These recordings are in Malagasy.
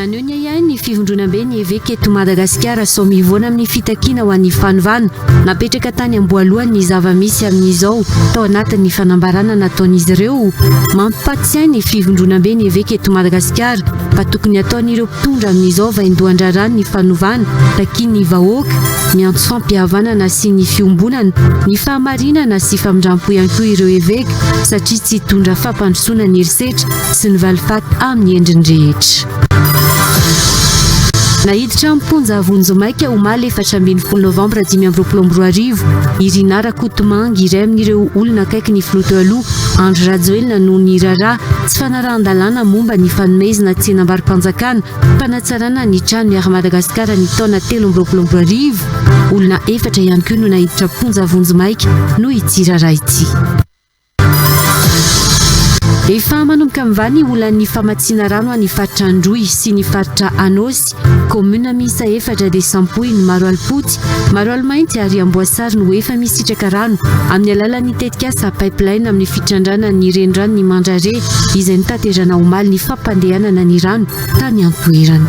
Naneho ny ahiahiny ny fivondronambe ny Eveka eto Madagasikara sao mivoana amin'ny fitakiana ho an'ny fanovana. Napetraka tany am-boalohany ny zava-misy amin'izao tao anatin'ny fanambarana nataon'izy ireo. Mampatsiahy ny fivondronambe ny Eveka eto Madagasikara fa tokony hataon'ireo mpitondra amin'izao vaindohan-draharaha ny fanovana takian'ny vahoaka. Miantso fampihavanana sy ny fiombonana, ny fahamarinana sy famindrampo ihany koa ireo Eveka. satria tsy hitondra fampandrosoana ny herisetra sy ny valifaty amin'ny endriny rehetra. Naiditra am-ponja vonjimaika omaly efatra ambin'ny folo novambra dimy amby roapolo amby roa arivo i Rinah Rakotomangy, iray amin'ireo olona akaiky ny filoha teo aloha Andry Rajoelina noho ny raharaha tsy fanarahan-dalàna momba ny fanomezna tsenam-baro-panjakana Fanatsarana ny tranon'i Air Madagascar ny taona telo amby roapolo amby roa arivo. Olona efatra ihany koa no naiditra am-ponja vonjimaika noho ity raharaha ity. Efa manomboka mivaha ny olan'ny famatsiana rano any faritra Androy sy ny faritra Anôsy. Kaominina miisa efatra dia sampoy ny maro alipody Maroaly mainty ary am-boasary no efa misitraka rano amin'ny alalan'ny tetikasa Pipeline amin'ny fitrandrana ny reniranon'i Mandrare izay notaterana omaly ny fampandehanana ny rano tany an-toerana.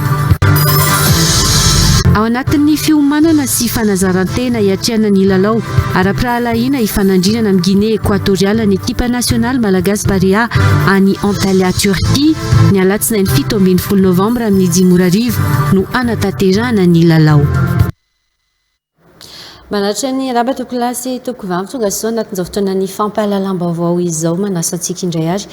Ao anatin'ny fiomanana sy fanazaran-tena hiatrehana ny lalao ara-pirahalahiana hifanandrinana amin'i Ginea Ekoatoriala ny ekipa nasionaly malagasy Barea any Antalya Turquie. Ny alatsinainy fito ambin'ny folo novambra amin'ny dimy ora arivo no hanatanterahana ny lalao. Manaritra ny araba toko lahy sy toko vavy tonga soa anatin'izao fotoanan'ny fampahalalam-baovao izao manasa antsika indray ary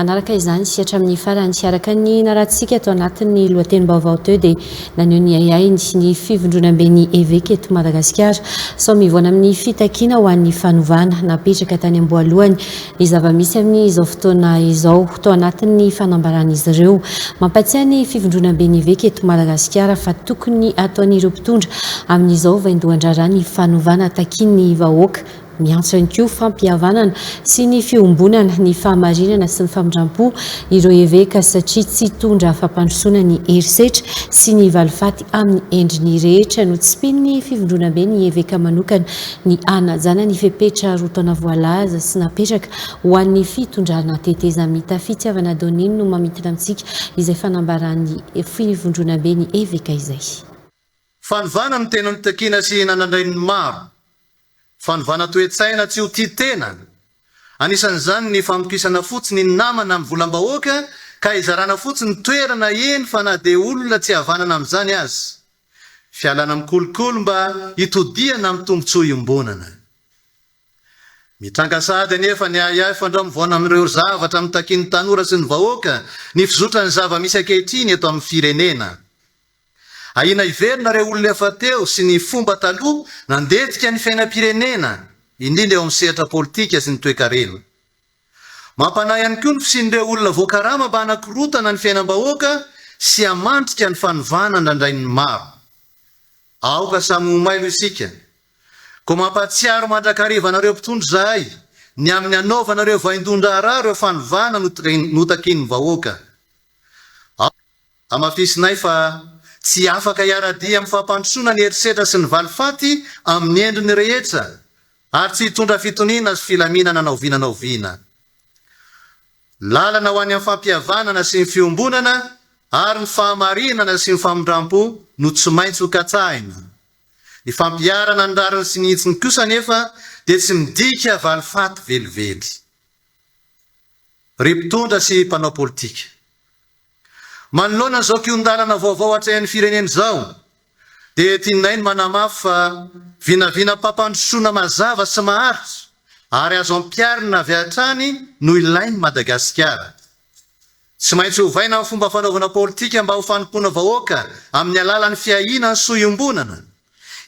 anaraka izany sy hatramin'ny farany. Araka ny naratsika ato anatin'ny lohatenim-baovao teo dia naneho ny ahiahiny sy ny fivondronamben'ny eveka eto Madagasikara sao mivoana amin'ny fitakiana ho an'ny fanovana napetraka tany am-boalohany Ny zava-misy amin' izao fotoana izao. Tao anatin' ny fanambaran' izy ireo. Mampatsiahy ny fivondronamben' eveka eto Madagasikara fa tokony hataon' ireo mpitondra amin' izao vaindohan-draharaha ny fanovana takin' ny vahoaka. Miantso ihany koa fampihavanana sy ny fiombonana, ny fahamarinana sy ny famindram-po ireo eveka satria tsy hitondra fampandrosoana ny herisetra sy ny valifaty amin' ny endriny rehetra. Notsimpin' ny fivondronamben' ny eveka manokana ny hanajana ny fepetra roa taona voalaza sy napetraka ho an'ny fitondrana tetezamita Fitiavana Donine no mamintina amintsika izay fanambaran'ny Fivondronaben'ny Eveka izay. Fanovana no tena nitakiana sy nanandrain'ny maro. Fanovana toe-tsaina tsy ho tia tena. Anisan'izany ny famokisana fotsiny ny namana amin'ny volam-bahoaka ka hizarana fotsiny toerana eny fa na dia olona tsy havanana amin'izany aza. Fialana amin'ny kolikoly mba hitodihana amin'ny tombontsoa iombonana. Mitranga sahady anefa ny ahiahy fandramovoana amin'ireo zavatra notakian'ny tanora sy ny vahoaka ny fizotran'ny zava-misy ankehitriny eto amin'ny firenena. Ahiana hiverina ireo olona efa teo sy ny fomba taloha nandetika ny fiainam-pirenena, indrindra eo amin'ny sehatra politika sy ny toekarena. Mampanahy ihany koa ny fisian'ireo olona voakarama mba hanakorontana ny fiainam-bahoaka sy hamandrika ny fanovana andrandrain'ny maro. Aoka samy ho mailo isika. Koa mampahatsiaro mandrakariva anareo mpitondra izahay ny amin'ny hanaovanareo vaindohan-draharaha ireo fanovana notakin'ny vahoaka. Hamafisinay fa tsy afaka hiara-dia amin'ny fampandrosoana ny herisetra sy ny valifaty amin'ny endriny rehetra ary tsy hitondra fitoniana sy filaminana na oviana na oviana. Ny lalana ho any amin'ny fampihavanana sy ny fiombonana ary ny fahamarinana sy ny famindrampo no tsy maintsy ho katsahina. Ny fampiharana ny rariny sy ny hitsiny kosa anefa dia tsy midika valifaty velively. Ry mpitondra sy mpanao politika. Manoloana izao kihon-dalana vaovao atrehin'ny firenena izao dia tianay ny manamafy fa vinavinam-pampandrosoana mazava sy maharitra ary azo ampiharina avy hatrany no ilain'i Madagasikara. Tsy maintsy ovaina ny fomba fanaovana politika mba ho fanompoana vahoaka amin'ny alalan'ny fiahiana ny soa iombonana,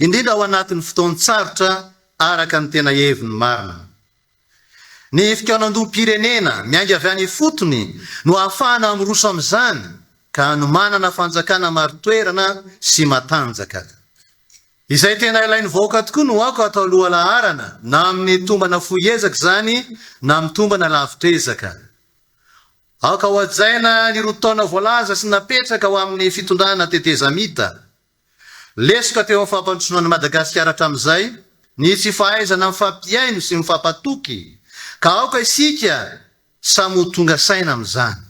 indrindra ao anatin'ny fotoan-tsarotra araka ny tena heviny marina. Ny fikaonandoham-pirenena miainga avy any ifotony no ahafahana miroso amin'izany ka hanomanana fanjakana marin-toerana sy matanjaka. Izay tena ilain'ny vahoaka tokoa no aoka atao lohalaharana na amin'ny tombana fohy ezaka izany na amin'ny tombana lavitra ezaka. Aoka hohajaina ny roa taona voalaza sy napetraka ho amin'ny fitondrana tetezamita. Lesoka teo amin'ny fampandrosoana an'i Madagasikara hatramin'izay ny tsy fahaizana mifampihaino sy mifampatoky, ka aoka isika samy ho tonga saina amin'izany.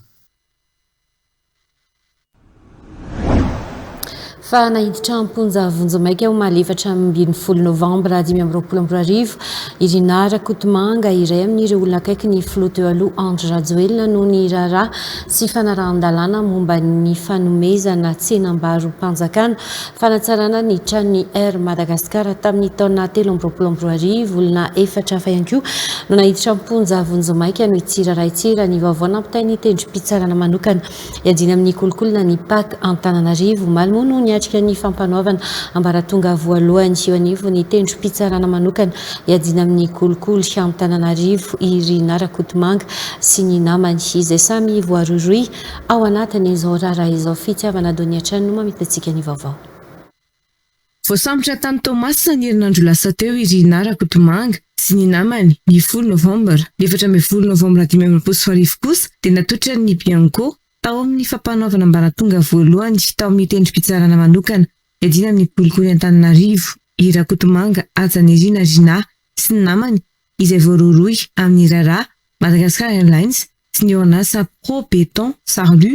Fa naiditra am-ponja vonjimaika omaly efatra ambin'ny folo novambra dimy amby roapolo amby roa arivo i Rinah Rakotomanga, iray amin'ireo olona akaiky ny filoha teo aloha Andry Rajoelina noho ny raharaha sy fanarahan-dalàna momba ny fanomezana tsenam-barom-panjakana, fanatsarana ny tranon'ny Air Madagascar tamin'ny taona telo amby roapolo amby roa arivo. Olona efatra hafa ihany koa no naiditra am-ponja vonjimaika noho tsiraraitsira ny vaovao nampitain'ny tendrom-pitsarana manokana iadiana amin'ny kolikoly ny pac Antananarivo. Omaly moa no niatrika ny fampanoavana ambaratonga voalohany eo anivon'ny tendrom-pitsarana manokana Iadiana amin'ny kolikoly any Antananarivo i Rinah Rakotomanga sy ny namany, izay samy voarohirohy ao anatin'izao raharaha izao. Fitiavana Donny hatrany no mamitantsika ny vaovao. Voasambotra tany Toamasina ny herinandro lasa teo i Rinah Rakotomanga sy ny namany, ny folo novambra. Ny efatra ambin'ny folo novambra dimy amby roapolo sy roa arivo kosa dia natotran'ny Bianco tao amin'ny fampanaovana ambaratonga voalohany tao amin'ny tendrom-pitsarana manokana Iadiana amin'ny kolikoly Antananarivo i Rakotomanga Hajanirina Rinah sy ny namany izay voarohirohy amin'ny raharaha Madagascar Airlines sy ny orinasa Pro Beton Sarlu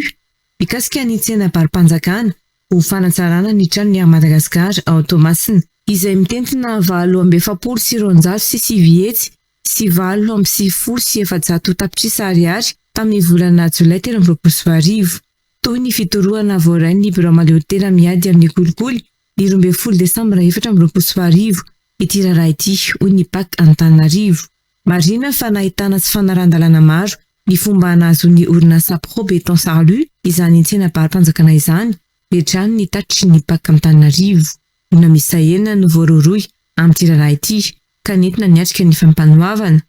mikasika ny tsenam-baro-panjakana ho fanatsarana ny tranon'ny Air Madagascar ao Toamasina izay mitentina valo amby efapolo sy roanjato sy sivy hetsy sy valo amby sivifolo sy efajato tapitrisa ariary tamin'ny volana jolay telo amby roapolo sy roa arivo. Toy ny fidorohana voarain'ny Birao Maleotera Miady amin'ny Kolikoly, ny roa ambin'ny folo Desambra efatra amby roapolo sy roa arivo, ity raharaha ity, hoy ny Pac Antananarivo. Marihina fa nahitana tsy fanarahan-dalàna maro ny fomba nahazoan'ny orinasa Pro Béton Sarlu izany tsenam-pahary-panjakana izany, dia hatrany ny tatitry ny Pac Antananarivo. Olona miisa enina no voarohirohy amin'ity raharaha ity ka nentina niatrika ny fampanoavana,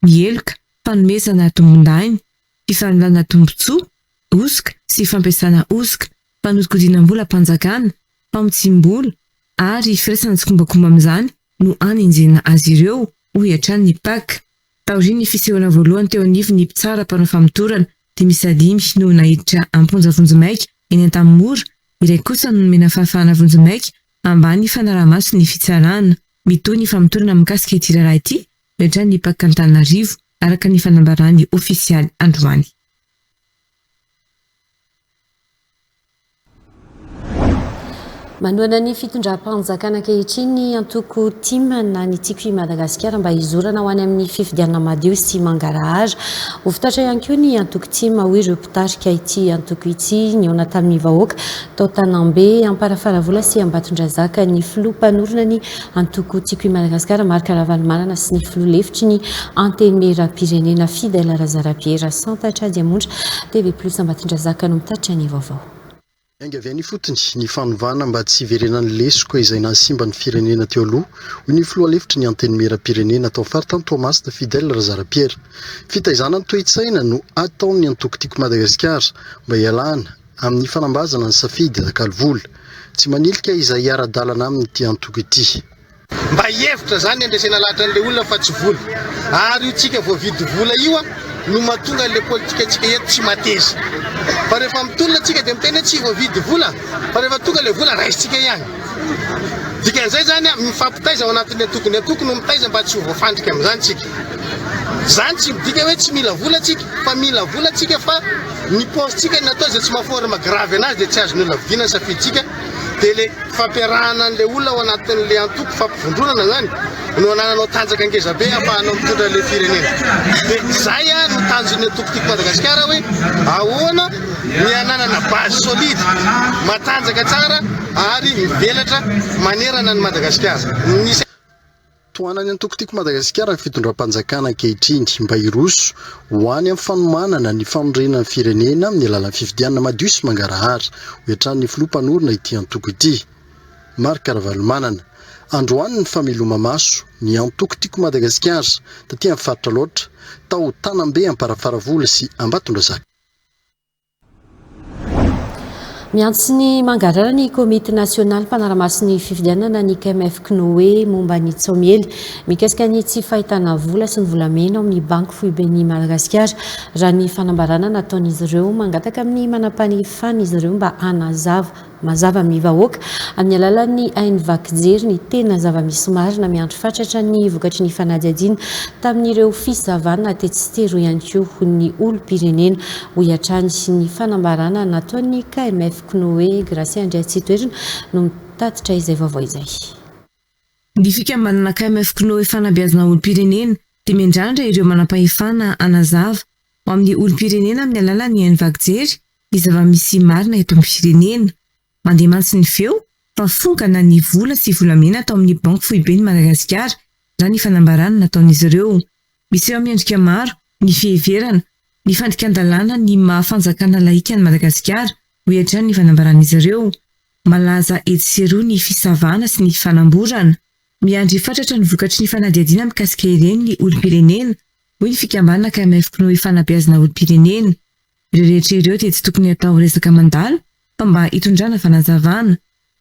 ny heloka, fanomezana tombondahiny, fifaninanana tombontsoa, hosoka sy fampiasana hosoka, fanodikodinam-bolam-panjakana, famotsiam-bola ary firaisana tsikombakomba amin'izany no anenjehina azy ireo, hoy hatrany ny Pac. Taorian'ny fisehoana voalohany teo anivon'ny mpitsara mpanao famotorana, dimy isa dimy no naiditra am-ponja vonjimaika eny Antanimora, iray kosa no nomena fahafahana vonjimaika ambany fanaraha-maso ny fitsarana. Mitohy ny famotorana mikasika ity raharaha ity miatrany i Parc Antananarivo, araka ny fanambaràny ofisialy androany. Manohana ny fitondram-panjakana ankehitriny ny antoko tim na ny Tiako i Madagasikara mba hizorana ho any amin'ny fifidianana madio sy mangarahara. Ho fitaratra ihany koa ny antoko tim, hoy ireo mpitarika ity antoko ity nihaona tamin'ny vahoaka tao Tanambe, Amparafaravola sy Ambatondrazaka ny filoha mpanorina ny Antoko Tiako i Madagasikara, Marc Ravalomanana sy ny filoha lefitry ny Antenimierampirenena Fidèle Razarapiera Rasantatra Diamonitra. TV Plus Ambatondrazaka no mitatitra ny vaovao. Miainga avy any ifotony ny fanovana mba tsy hiverenan'ny lesoka izay nahasimba ny firenena teo aloha, hoy ny filoha lefitry ny Antenimierampirenena tao faritany Toamasina Fidèle Razarapiera. Fitaizana ny toe-tsaina no ataon'ny antoko Tiako Madagasikara mba hialana. Amin'ny fanambazana ny safidy nakalo vola. Tsy manilika izay hiara-dalana aminy ity antoko ity. Mba hevitra zany andresena lahatra anle olona fa tsy vola. Ary io tsika voavidy vola io no mahatonga anle politika tsika eto tsy mateza. Fa rehefa mitolona tsika de miteny hoe tsy voavidy vola fa rehefa tonga le vola raisitsika ihany. Dikan'izay zany mifampitaiza ao anatin'ny antoko ny antoko no mitaiza mba tsy ho voafandrika amin'izany tsika. Zany tsy midika hoe tsy mila vola tsika fa mila vola tsika fa. Ny paozintsika no natao izay tsy maha forme grave anazy dia tsy azon'ny olona vidiana ny safidintsika dia ilay fampiarahana an'ilay olona ao anatin'ilay antoko fampivondronana izany no anananao tanjaka ngeza be ahafahanao mitondra ilay firenena dia izay a no tanjon'ny antoko tiako Madagasikara hoe ahoana ny ananana base solide matanjaka tsara ary mivelatra manerana ny Madagasikara Tohanan'ny antoko Tiako Madagasikara ny fitondram-panjakana ankehitriny mba hiroso ho any amin'ny fanomanana ny fanorenana ny firenena amin'ny alalan'ny fifidianana madio sy mangarahara, hoy hatrany ny filoha mpanorina ity antoko ity, Marc Ravalomanana. Androany ny fameloma-maso ny antoko Tiako Madagasikara taty amin'ny faritra Alaotra, tao Tanambe Amparafaravola sy Ambatondrazaka. Miantso ny mangarara ny Komity Nasionaly Mpanaramaso ny Fifidianana ny KMF Cnoe momba ny tsaomiely mikasika ny tsy fahitana vola sy ny volamena ao amin'ny Banky Foiben'i Madagasikara raha ny fanambarana nataon'izy ireo mangataka amin'ny manam-pahefana izy ireo mba hanazava Mazava amin'ny vahoaka, amin'ny alalan'ny haino vaky jery, ny tena zava-misy marina miandry fatratra ny vokatry ny fanadihadiana tamin'ireo fisavana tetsy sy teroa ihany koa ho ny olom-pirenena, hoy hatrany ny fanambarana nataon'ny KMF Knoe Gracia Andriatsitoerina no mitatitra izay vaovao izay. Ny fikambanana KMF Knoe Fanabeazana Olom-pirenena dia miandrandra ireo manampahefana hanazava ho amin'ny olom-pirenena amin'ny alalan'ny haino vaky jery ny zava-misy marina eto amin'ny firenena. Mandeha mantsy ny feo fa fongana ny vola sy volamena tao amin'ny Banky Foiben'i Madagasikara, raha ny fanambarana nataon'izy ireo. Miseho miendrika maro ny fiheverana ny fandikan-dalàna ny maha fanjakana laika an'i Madagasikara, hoy hatrany ny fanambaran'izy ireo. Malaza etsy sy eroa ny fisavana sy ny fanamborana. Miandry fatratra ny vokatry ny fanadihadiana mikasika ireny ny olom-pirenena, hoy ny fikambanana KMFKnoe Fanabeazana olom-pirenena. Ireo rehetra ireo dia tsy tokony hatao resaka mandalo fa mba hitondrana fanazavana.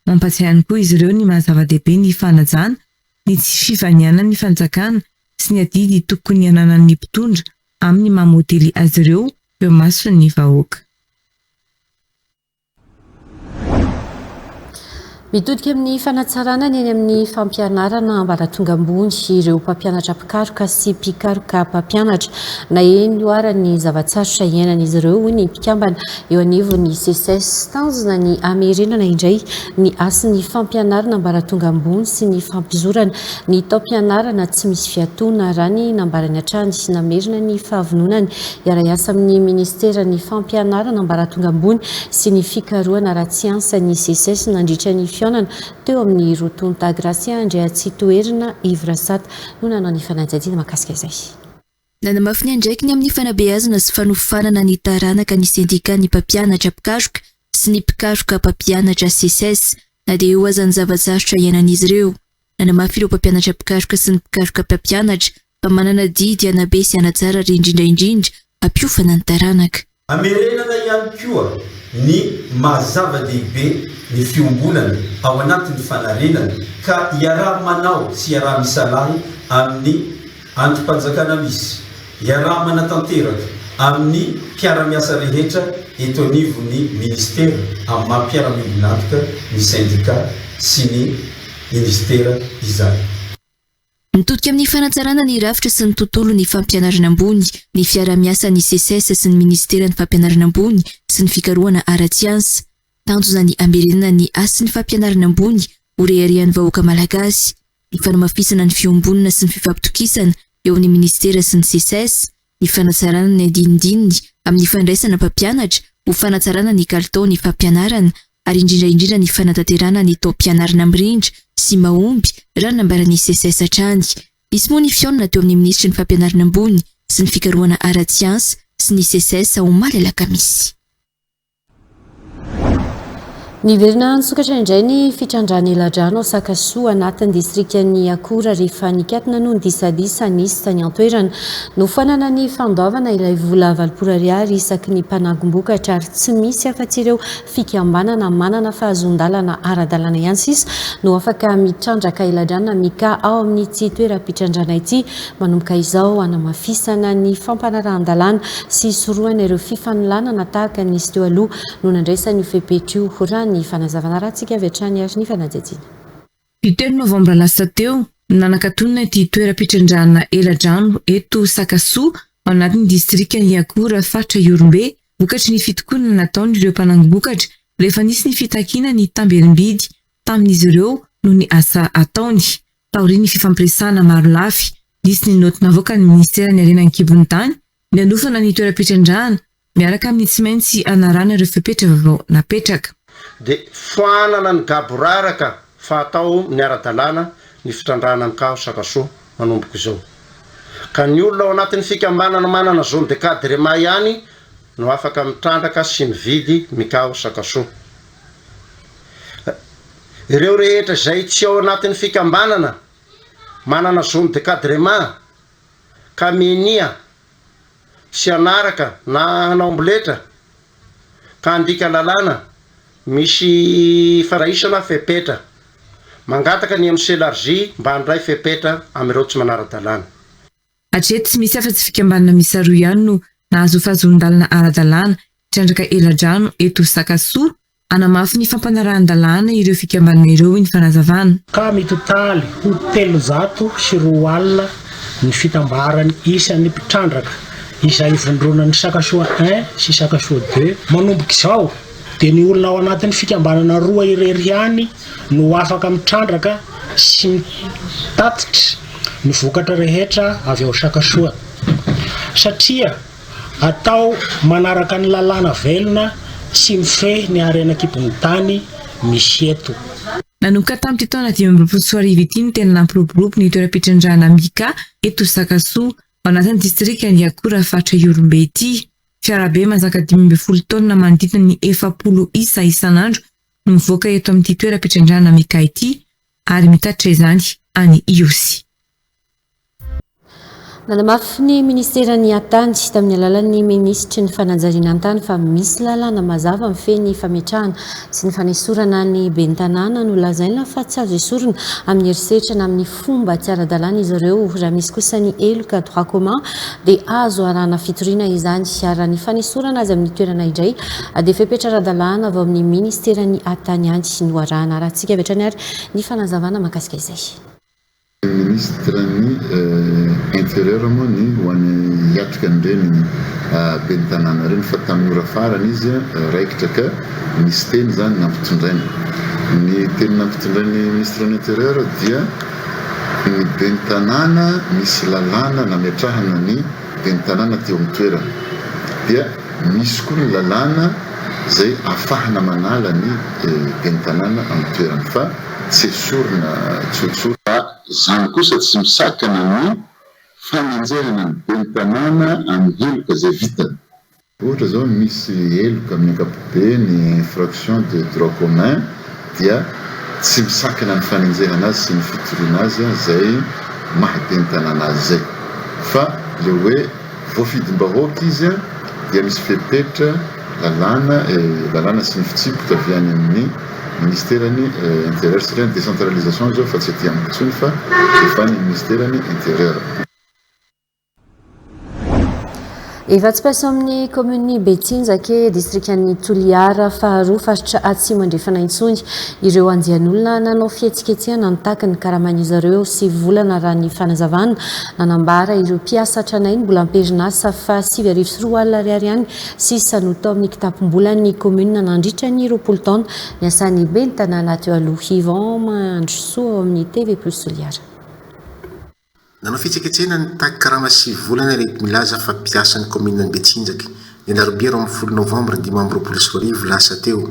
Mampatsiahy ihany koa izy ireo ny maha zava-dehibe ny fanajana, ny tsy fivanianan'ny fanjakana sy ny adidy tokony ananan'ny mpitondra amin'ny maha modely azy ireo eo imason'ny vahoaka. Mitodika amin'ny fanatsarana ny eny amin'ny fampianarana ambaratonga ambony ireo mpampianatra mpikaroka sy mpikaroka mpampianatra. Naheno io ara ny zava-tsarotra iainan'izy ireo hoy ny mpikambana eo anivon'ny CSS. Tanjona ny hamerenana indray ny hasin'ny fampianarana ambaratonga ambony sy ny fampizorana ny taom-pianarana tsy misy fiatoana raha ny nambarany hatrany namerina ny fahavononany Hiara-hiasa amin'ny Ministeran'ny Fampianarana ambaratonga ambony sy ny fikarohana ara-tsiansa ny Seces nandritra ny fihaonana teo amin'ny roa tonta. Gracia Andriatsitoherina, Yves Rasat, no nanao ny fanadihadiana mahakasika izay. Nanamafy ny andraikiny amin'ny fanabeazana sy fanofanana ny taranaka ny Sendikan'ny Mpampianatra mpikaroka sy ny mpikaroka mpampianatra, Seces, na dia eo aza ny zava-tsarotra iainan'izy ireo. Nanamafy ireo mpampianatra mpikaroka sy ny mpikaroka mpampianatra fa manana didy hanabe sy hanatsara ary indrindra indrindra hampiofana ny taranaka. Hamerenana ihany koa ny maha zava-dehibe ny fiombonana ao anatin'ny fanarenana ka iaraha-manao sy iaraha-misalahy amin'ny. Andrim-panjakana misy. Iaraha-manatanteraka amin'ny mpiara-miasa rehetra eto anivon'ny Minisitera amin'ny maha mpiara-miombon'antoka ny sendika sy ny Minisitera izany. Mitodika amin'ny fanatsarana ny rafitra sy ny tontolon'ny fampianarana ambony ny fiaraha-miasan'ny Seces sy ny Minisiteran'ny Fampianarana ambony sy ny Fikarohana ara-tsiansa. Tanjona ny hamerenana ny hasin'ny fampianarana ambony ho reharehan'ny vahoaka malagasy. ny fanamafisana ny fiombonana sy ny fifampitokisana eo amin'ny minisitera sy ny Seces, ny fanatsarana ny andinindininy amin'ny fandraisana mpampianatra ho fanatsarana ny kalitaon'ny fampianarana ary indrindra indrindra ny fanatanterahana ny taom-pianarana mirindra sy mahomby raha nambaran'ny Seces hatrany. Nisy moa ny fihaonana teo amin'ny minisitry ny Fampianarana ambony sy ny fikarohana ara-tsiansa sy ny Seces omaly alakamisy. Niverina nisokatra indray ny fitrandrahana eladrano ao Sakasoa anatin'ny distrikan'i Akora rehefa nikatona noho ny disadisa nisy tany an-toerana. Nofoanana ny fandoavana ilay vola valopolo ariary isaky ny mpanagom-bokatra ary tsy misy afa-tsy ireo fikambanana manana fahazoan-dalana ara-dalàna ihany sisa no afaka mitrandraka eladrano na mika ao amin'ity toeram-pitrandrana ity. Manomboka izao, hanamafisana ny fampanarahan-dalàna sy hisorohana ireo fifanolanana tahaka ny nisy teo aloha no nandraisana io fepetra io, raha ny fanazavana arahantsika avy hatrany ary ny fanadihadiana. Ny telo novambra lasa teo no nanakatonana ity toeram-pitrandrahana eladrano eto Sakasoa ao anatin'ny distrikan'i Iakora faritra Ihorombe vokatry ny fitokonana nataon'ireo mpanangom-bokatra rehefa nisy ny fitakiana ny tamberim-bidy tamin'izy ireo noho ny asa ataony. Taorian'ny fifampiresahana marolafy, nisy ny naoty navoakan'ny Ministeran'ny Harena an-kibon'ny tany nanofana ny toeram-pitrandrahana miaraka amin'ny tsy maintsy hanarahana ireo fepetra vaovao napetraka. dia foanana ny gaboraraka fa atao miara-dalàna ny fitrandrahana ny kaho sakasoa manomboka izao, ka ny olona ao anatin'ny fikambanana manana zone de cadrement ihany no afaka mitrandraka sy mividy ny kaho sakasoa. Ireo rehetra izay tsy ao anatin'ny fikambanana manana zone de cadrement ka minia tsy hanaraka na hanao amboletra ka handika lalàna misy faraisana fepetra, mangataka ny MCLRJ mba handray fepetra amin'ireo tsy manara-dalàna. Hatreto tsy misy afa-tsy fikambanana miisa roa ihany no nahazo fahazoan-dalana ara-dalàna hitrandraka eladrano eto Sakasoa. Hanamafy ny fampanarahan-dalàna ireo fikambanana ireo ny fanazavana. ka mitotaly ho telozato sy roa alina ny fitambaran'ny isan'ny mpitrandraka izay ivondronan'ny Sakasoa I sy Sakasoa ii manomboka izao. dia ny olona ao anatin'ny fikambanana roa irery ihany no afaka mitrandraka sy mitatitra ny vokatra rehetra avy ao Sakasoa. Satria atao manaraka ny lalàna velona tsy mifehy ny harena an-kibon'ny tany misy eto. Nanomboka tamin'ity taona dimy amby roapolo sy roa arivo ity no tena nampiroborobo ny toeram-pitrandrahana Mika eto Sakasoa, ao anatin'ny distrikan'i Iakora faritra Ihorombe ity. Fiarabe mazaka dimy ambin'ny folo taonina manodidina ny efapolo isa isan'andro no mivoaka eto amin'ity toeram-pitrandrahana Mika ity ary mitatitra izany any Ihosy. Nanamafy ny Ministeran'ny Hattany, tamin'ny alalan'ny Minisitry ny Fanajariana an-tany fa misy lalàna mazava mifehy ny fametrahana sy ny fanesorana ny Ben'ny Tanàna nolazaina fa tsy azo esorina amin'ny herisetra na amin'ny fomba tsy ara-dalàna izy ireo. Raha misy kosa ny heloka, droit commun, dia azo arahana fitoriana izany. Ary raha ny fanesorana azy amin'ny toerana indray dia fepetra ara-dalàna avy ao amin'ny Ministeran'ny tany any no arahana. Arahintsika avy hatrany ary ny fanazavana mahakasika izay. Ministeran'ny Intérieur moa ny ho an'ny hiatrika an'ireny ben'ny tanàna ireny fa tamin'ny ora farany izy raikitra ka. Misy teny izany nampitondrainy. Ny teny nampitondrain'ny Ministre de l'Intérieur dia ny ben'ny tanàna misy lalàna nametrahana ny ben'ny tanàna teo amin'ny toerana. Dia misy koa ny lalàna izay afahana manala ny ben'ny tanàna amin'ny toerany fa tsy esorina tsotsotra. Fa izany kosa tsy misakana ny fanenjehana ny ben'ny tanàna amin'ny heloka izay vitany. Ohatra zao misy heloka amin'ny ankapobeny infraction de droit commun dia tsy misakana ny fanenjehana azy sy ny fitoriana azy zay maha Ben'ny tanàna azy zay fa le hoe voafidim-bahoaka izy dia misy fepetra lalàna lalàna sy ny fitsipika avy any amin'ny ministeran'ny interieur satria ny décentralisation zao fa tsy aty amiko intsony fa efa any amin'ny ministeran'ny interieur. Efa tsy mpiasa ao amin'ny kaominin'i Betsinjake, distrikan'i Toliara faharoa, faritra Atsimo Andrefana intsony ireo andian'olona nanao fihetsiketsehana nitaky ny karamain'izy ireo sivy volana raha ny fanazavana nanambara ireo mpiasa tranainy mbola am-perinasa fa sivy arivo sy roa alina ariary ihany sisa no tao amin'ny kitapom-bolan'ny kaominina nandritra ny roapolo taona niasan'ny ben'ny tanàna teo aloha. Yvan Mandrosoa ao amin'ny TV Plus Toliara. Nanao fihetsiketsehana ny tax karama sivy volana ireto milaza fa mpiasan'ny kaominina Ambetsinjaka, ny alarobia roa ambin'ny folo novambra dimy amby roapolo sy roa arivo lasa teo.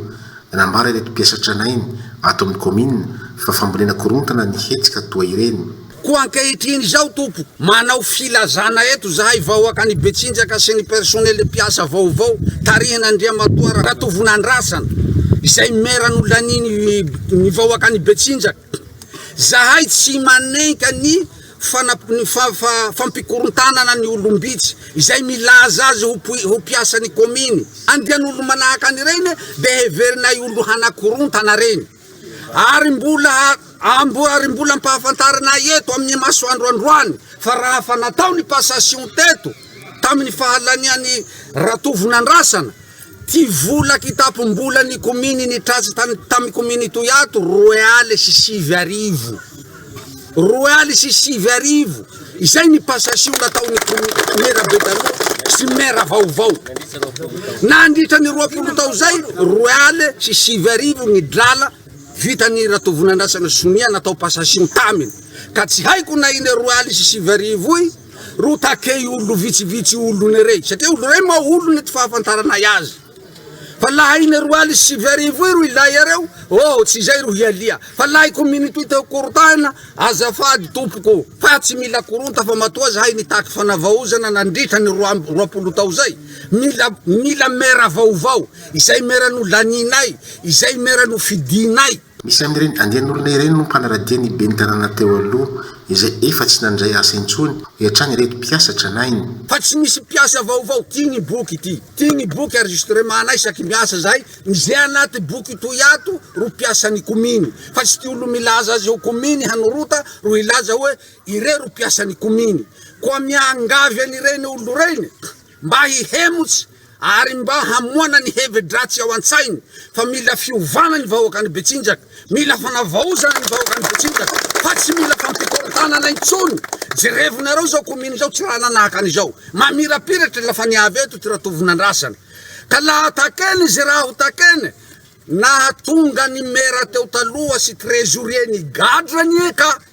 Nanambara ireto mpiasa tranainy ato amin'ny kaominina fa fambolena korontana ny hetsika toa ireny. Koa ankehitriny izao Tompo, manao filazana eto izahay vahoaka any Betsinjaka sy ny personnel mpiasa vaovao tarihin' Andriamatoa Ratovo Nandrasana, izay maire nolaniany ny vahoaka any Betsinjaka. Zahay tsy manenka ny fampikorontanana ny olom-bitsy izay milaza azy ho mpiasan'ny kaominy. Andian'olo-manahaka an'ireny dia heverinay ho lohanakorontana ireny. Ary mbola ary mbola ampahafantarinay eto amin'ny masoandro androany fa raha fa natao ny passation teto tamin'ny fahalanian'i Ratovonandrasana, Ty vola kitapom-bola ny kominy nitrasa tany tamy kominy toy ato roe aly sy sivy arivo roe aly sy sivy arivo izay ny passation nataony mera be taloha sy mera vaovao nandritra ny roapolo tao zay roe aly sy sivy arivo ny drala vitany ratovonandrasana sonia natao passation taminy ka tsy haiko na iny roe aly sy sivy arivo y Ro takei ollo vitsivitsy ollone rey satria ollo rey ma ollone ty fahafantaranay azy fa laha iny roa aly sy sivy arivo iro ilay iareo oh tsy izay ro hialia fa laha i community io teo korontana azafady tompoko fa tsy mila koronta fa matoa zahay nitaky fanavaozana nandritra ny roa amby roapolo tao zay mila mila mera vaovao izay mera nolanianay izay mera nofidinay Misy amin'ireny andian'olona ireny no mpanaradia ny ben'ny tanàna teo aloha, izay efa tsy nandray asa intsony, hoatran'ny ireto mpiasa tranainy. Fa tsy misy mpiasa vaovao tia ny boky ity. Tia ny boky enregistrement anay isaky miasa zahay. Ny ze anaty boky toy ato ro mpiasan'ny kominy. Fa tsy tia olo milaza azy eo kominy hanorota ro hilaza hoe ireo ro mpiasan'ny kominy. Koa miangavy an'ireny olo ireny. mba hihemotsy ary mba hamoana ny hevi-dratsy ao an-tsainy fa mila fiovana ny vahoakan'i Betsinjaka, mila fanavaozana ny vahoakan'i Betsinjaka fa tsy mila fampikorontanana intsony, jerevinareo izao commune izao tsy raha nanahaka an'izao, mamirapiratra la fa ny avy eto tsy raha tovon'andrasana ka la attaquer-ny izay raha ho taquer-ny, nahatonga ny maire teo taloha sy trésorier nigadra anie ka.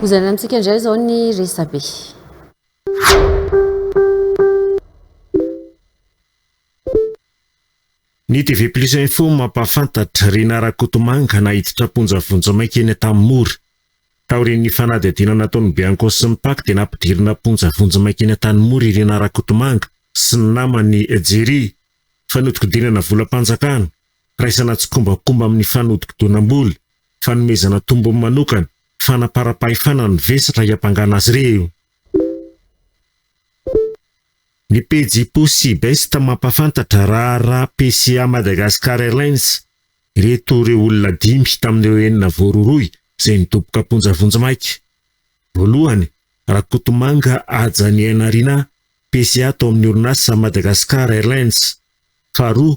Hozaraina amintsika indray izao ny resabe. Ny TV Plus Info mampahafantatra, Rinah Rakotomanga naiditra am-ponja vonjimaika eny Antanimora. Taorian'ny fanadihadiana nataon'ny Bianco sy ny Pac dia nampidirina am-ponja vonjimaika eny Antanimora i Rinah Rakotomanga sy ny namany Jerry. Fanodikodinana volam-panjakana, Firaisana tsikombakomba amin'ny fanodikodinam-bola, fanomezana tombony manokana, fanaparam-pahefana ny vesatra hiampangana azy ireo. Ny pejy Possibest mampahafantatra raharaha PCA Madagascar Airlines ireto ireo olona dimy tamin'ireo enina voarohirohy izay nidoboka am-ponja vonjimaika. Voalohany, Rakotomanga Haja Niainarina, PCA tao amin'ny orinasa Madagascar Airlines. Faharoa,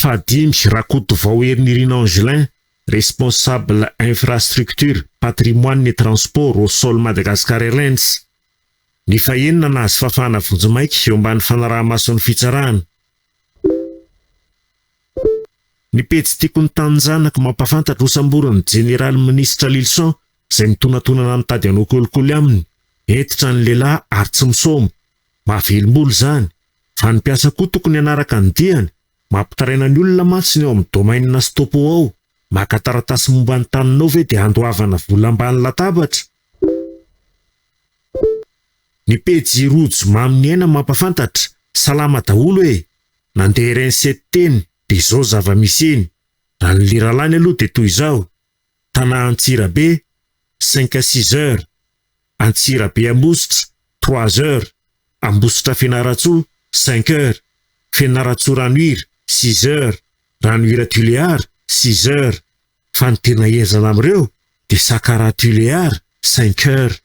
Fahadimy, Rakotovao Herinirina Angelin, Responsable Infrastructure, Patrimoine et Transport au sol Madagascar Airlines. Ny fahenina, Nahazo fafana vonjimaika eo ambany fanaraha-mason'ny fitsarana. Ny pejy Tiako ny taninjanako mampahafantatra hosamborin'ny Jeneraly Minisitra Lylison izay mitonatonana mitady hanao kolikoly aminy, hentitra ny lehilahy ary tsy misaoma, Mahavelombolo izany, fa ny mpiasa koa tokony hanaraka ny diany, mampitaraina ny olona mantsy ny ao amin'ny domaine na stopo ao, maka taratasy momba ny taninao ve dia handoavana vola ambany latabatra? Ny pejy Rojo Mamy Ny Aina mampafantatra, salama daholo e! Nandeha ireny sety teny, dia izao zava-misy eny. Raha ny liralany aloha dia toy izao. Tana Antsirabe, cinq à six heures, Antsirabe Ambositra, trois heures, Ambositra Fianarantsoa, cinq heures, Fianarantsoa Ranohira, six heures, Ranohira Tuléar, six heures, fa ny tena henjana amin'ireo dia Sakara Tuléar, cinq heures.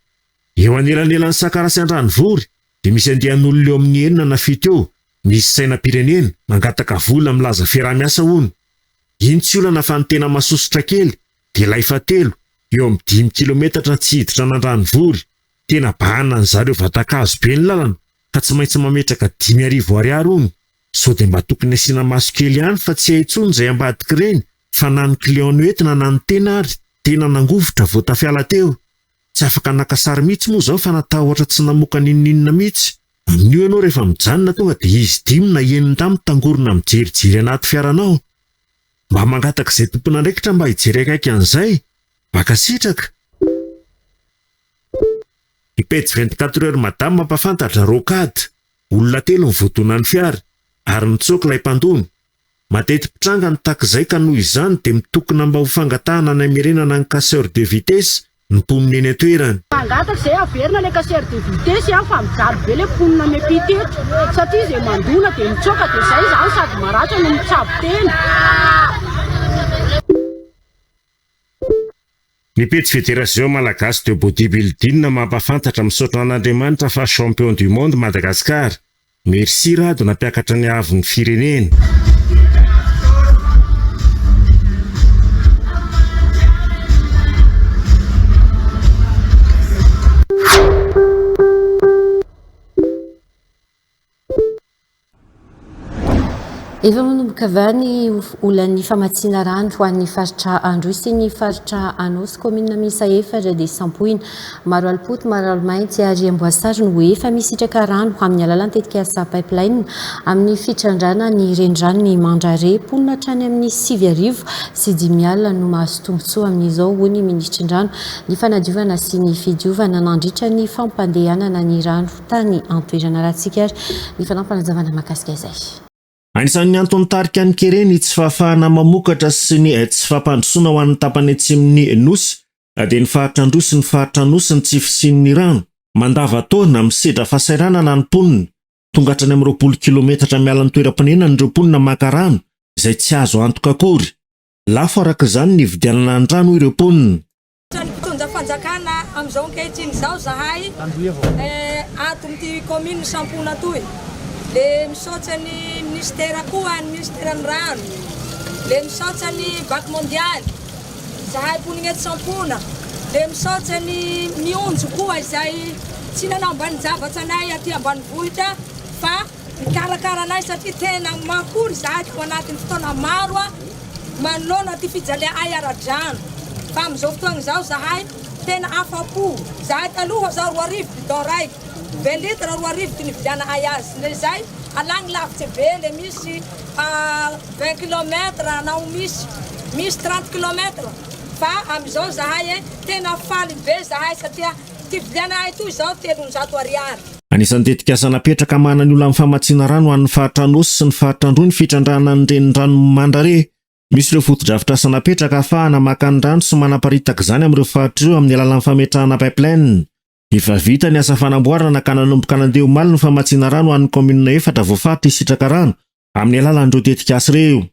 Eo anelanelan'i Sakara sy Andranovory dia misy andian'olona eo amin'ny enina na fito eo misy sainam-pirenena, mangataka vola milaza fiaraha-miasa hono. Iny tsy olana fa ny tena masosotra kely dia ilay fahatelo eo amin'ny dimy kilometatra tsy hiditra an'Andranovory, tena bahana ny zareo vatan-kazo be ny lalana ka tsy maintsy mametraka dimy arivo ariary hono, sao dia mba tokony asiana maso kely ihany fa tsy hay tsony izay ambadik'ireny fa na ny client noentina na ny tena ary tena nangovitra vao tafiala teo. Tsy afaka naka sary mihitsy moa zao fa natahotra tsy namoka n'inon'inona mihitsy. Amin'io ianao rehefa mijanona tonga dia izy dimy na enina indray mitangorona mijerijery anaty fiaranao. Mba mangataka izay tompon'andraikitra mba hijery akaiky an'izay. Mankasitraka. Ny pejy vingt quatre heures madame mampafantatra rocade, olona telo ny voadonan'ny fiara, ary nitsoaka ilay mpandona, Mateti-pitranga ny takizay ka noho izany dia mitokona mba ho fangatahana ny hamerenana ny casseur de vitesse ny mponina eny an-toerana. Mangataka izay haverina ilay casseur de vitesse an fa mijaly be ilay mponina miampita eto satria izay mandona dia mitsoaka dia izay izany sady maratra no mitsabo tena. Ny pejy Federation Malagasy de Bodybuilding mampafantatra Misaotra an'Andriamanitra fa Champion du Monde Madagascar Merci Rado nampiakatra ny haavon ny firenena. Efa manomboka va ny olan'ny famatsiana rano ho an'ny faritra Androy sy ny faritra Anao sy kaominina miisa efatra dia sampoina Maro alopota, maro alomainty ary amboasary no efa misitraka rano amin'ny alalan'ny tetikasa Pipeline amin'ny fitrandrahana ny reniranon'i Mandrare. Mponina hatrany amin'ny sivy arivo sy dimy alina no mahazo tombontsoa amin'izao, hoy ny minisitry ny Rano, ny Fanadiovana sy ny Fidiovana nandritra ny fampandehanana ny rano tany an-toerana. Arahantsika ary ny fanampiny hazavana mahakasika izay. Anisan'ny anton'ny tarika ny kere ny tsy fahafahana mamokatra sy ny tsy fampandrosoana ho an'ny tapany atsimon'ny Nosy dia ny faritra Androy ny faritra Anosy ny tsy fisian'ny rano mandavan-taona misedra fahasahiranana ny mponina. Tonga hatrany amin'ny roapolo kilometatra miala ny toeram-ponenany ireo mponina maka rano izay tsy azo antoka akory. Lafo araka izany ny hividianana ny rano hoy ireo mponina. Trano mpitondra fanjakana amin'izao ankehitriny izao zahay ato amin'ity commune Sampona toy. Le misaotra ny ministera koa, ny ministeran'ny rano. Le misaotra ny Banque mondiale. Zahay mponina eto Sampona. Le misaotra ny mionjo koa izay tsy nanambany zavatra anay aty ambanivohitra fa Mikarakara anay satria tena makory izahay tao anatin'ny fotoana maro manoloana ity fijalea'ay ara-drano fa amin'izao fotoana izao izahay tena afa-po. Izahay taloha izao roa arivo bidon raiky, vingt litres roa arivo ty nividiana'ay azy, ndre izay alagny lavitse be le misy à vingt kilomètres na ho misy misy trente kilomètres fa amin'izao izahay tena faly be izahay satria ty vidiana'ay toy izao telonjato ariary. Anisan'ny tetikasa napetraka hamahana ny olan'ny famatsiana rano ho an'ny faritra Anôsy sy ny faritra Androy ny fitrandrahana ny reniranon'i Mandrare. Misy ireo fotodrafitrasa napetraka hahafahana maka ny rano sy manaparitaka izany amin'ireo faritra ireo amin'ny alalan'ny fametrahana pipeline. Efa vita ny asa fanamboarana ka nanomboka nandeha omaly ny famatsiana rano ho an'ny kaominina efatra voafaritra hisitraka rano amin'ny alalan'ireo tetikasa ireo.